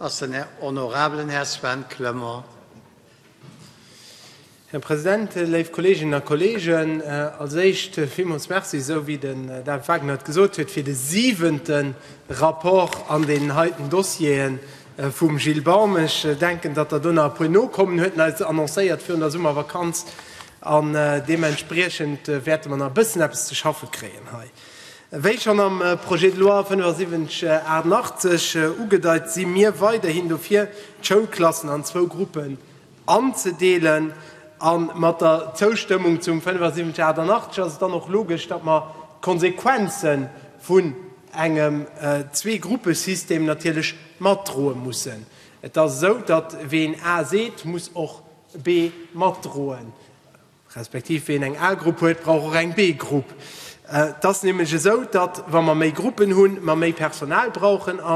Ass den Här honorabelen Här Sven Clement. Här President, léif Kolleeginnen a Kolleegen, als Éischt villmools Merci, esou wéi den David Wagner et gesot huet, fir de siwente Rapport an deenen heiten Dossiere vum Gilles Baum. Ech denken, datt Der do nach e puer nokommen huet, en eis annoncéiert virun der Summervakanz, an deementspriechend wäerte mer nach e bëssen eppes ze schaffe kréien hei. Wéi schonn am Projet de loi 7588 ugedeit, si mir weiderhin dofir, d'Schoulklassen an zwou Gruppen anzedeelen. A mat der Zoustëmmung zum 7588 ass et dann och logesch, datt mer d'Konsequenze vun engem Zwee-Gruppe-System natierlech matdroe mussen. Et ass esou, datt ween A seet, muss och B matdroen. Respektiv ween eng A-Grupp huet, brauch och eng B-Grupp. Et ass nämlech esou, datt, wa mer méi Gruppen hunn, mer méi Personal brauchen. A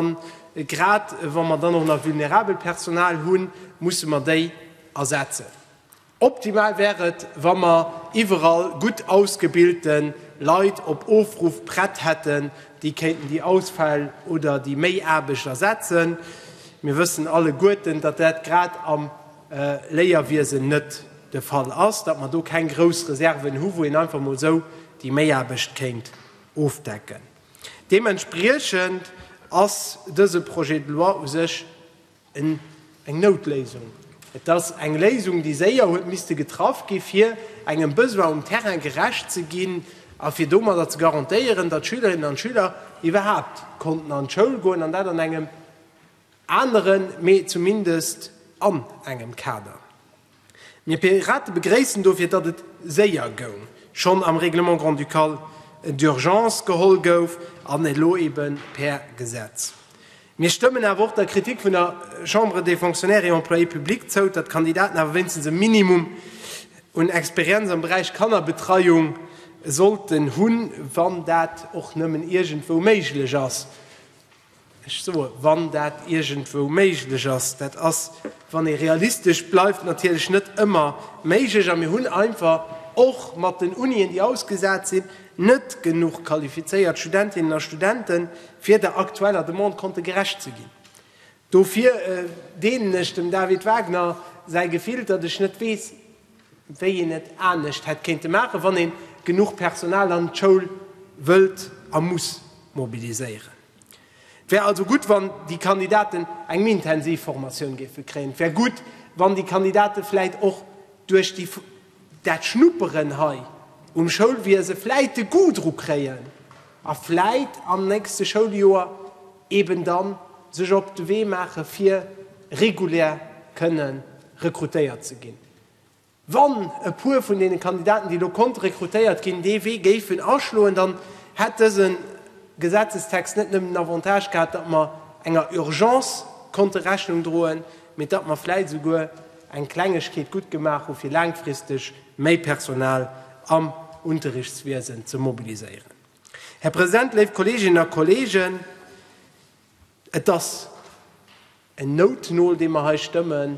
grad wa mer dann och nach vulnerabelt Personal hunn, musse mer déi ersetzen. Optimal wär et, wa mer iwwerall gutt ausgebilte Leit op Ofruff prett hätten, déi kéinten déi Ausfäll oder déi Méiaarbecht ersetzen. Mir wëssen alleguerten, datt dat grad am. Léierwiesen net de Fall ass, datt mer do keng grouss Reserven hu wou een einfach mol esou déi Méiaarbecht kéint ofdecken. Deementspriechend ass dëse Projet de loi u sech eng Noutléisung. Et ass eng Léisung déi séier huet misste getraff gi fir engem Besoin um Terrain gerecht ze ginn a fir domadder ze garantéieren, datt Schülerinnen an Schüler iwwerhaapt konnten an d'Schoul goen an dat an engem Aneren, mee zumindest an engem Kader. Mir Pirate begréissen dofir, datt et séier goung, schonn am Règlement grand-ducal d'urgence geholl gouf an elo ebe per Gesetz. Mir stëmmen awer och der Kritik vun der Chambre des Fonctionnaires et Employés publics zou, datt d'Kandidaten awer wéinstens e Minimum un Experienz am Beräich Kannerbetreiung sollten hunn, wann dat och nëmmen iergendwou méiglech ass. Ech soe wann dat iergendwou méiglech ass. Dat ass, wann ee realistesch bleift, natierlech net ëmmer méiglech. A mir hunn einfach och mat den Unien, déi ausgesat sinn, net genuch qualifizéiert Studentinnen a Studenten, fir der aktueller Demande konnte gerecht ze ginn. Dofir deelen ech dem David Wagner säi Gefill, datt ech net weess, wéi een et anescht hätt kéinte maachen, wann ee genuch Personal an d'Schoul wëllt a muss mobiliséieren. Et wär also gutt, wann déi Kandidaten eng méi intensiv Formatioun géife kréien. Et wär gutt, wann déi Kandidate vläicht och duerch déi, dat Schnupperen hei um Schoulwiese vläicht de Goût dru kréien, A vläit am nächste Schouljoer eben dann sech op de Wee maache fir regulär kënne rekrutéiert ze ginn. Wann e puer vun deene Kandidaten, déi elo konnte rekrutéiert ginn, dee Wee géifen aschloen, dann hätt dëse Gesetzestext net nëmmen den Avantage gehat, datt mer enger Urgence konnte Rechnung droen, mee datt mer vläit esouguer eng Klengegkeet gutt gemaach hu fir laangfristeg méi Personal am Unterrichtswiesen ze mobiliséieren. Här President, léif Kolleeginnen a Kolleegen, et ass en Noutnol, dee mer hei stëmmen,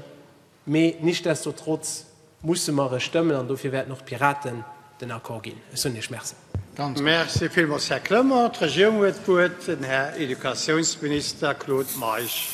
mee nichtsdestotrotz musse mer e stëmmen an dofir wäerten och d'Piraten den Accord ginn. Ech soen Iech Merci. Merci villmools, Här Clement. D'Regierung huet d'Wuert, den Här Educatiounsminister Claude Meisch.